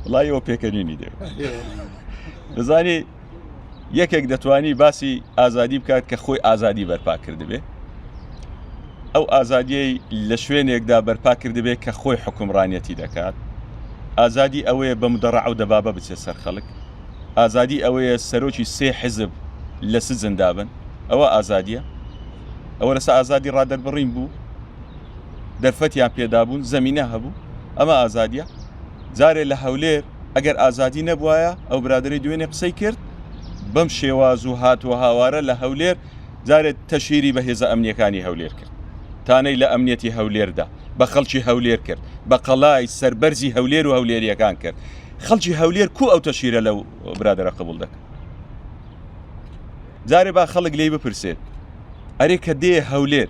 وڵی ئەوە پێکەنینی دێ دەزانی یەکێک دەتوانی باسی ئازادی بکات کە خۆی ئازادی بەرپا کردبێ ئەو ئازادیەی لە شوێنێکدا بەرپا کردبێت کە خۆی حکومڕانەتی دەکات ئازادی ئەوەیە بەم دەڕع و دەبابە بچێت سەر خەڵک ئازادی ئەوەیە سەرۆکی سێ حزب لە سزندابن ئەوە ئازادیە ئەوە لەسا ئازادی ڕادەربڕین بوو دەرفەتیان پێدابوون زەمینە هەبوو ئەمە ئازادیە جارێ لە هەولێر ئەگەر ئازادی نەبواە ئەو برادری دوێنێ قسەی کرد بەم شێواز و هاتووە هاوارە لە هەولێر جارێت تەشیری بە هێزە ئەمنیەکانی هەولێر کرد تانەی لە ئەمنیەتی هەولێردا بە خەڵکی هەولێر کرد بە قەلای سربەرزی هەولێر و هەولێریەکان کرد خەڵکی هەولێر کو ئەو تەشیرە لەو برادرە قبول دەکە جارێ با خەڵک لی بپرسێت ئەرێ کە دێ هەولێر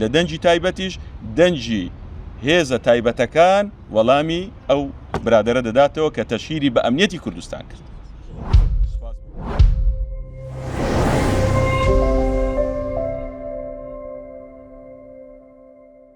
لە دەنگی تایبەتیش دەنگی هێزە تایبەتەکان وەڵامی ئەو برادرە دەداتەوە کە تەشیری بە ئەمنیەتی کوردستان کرد.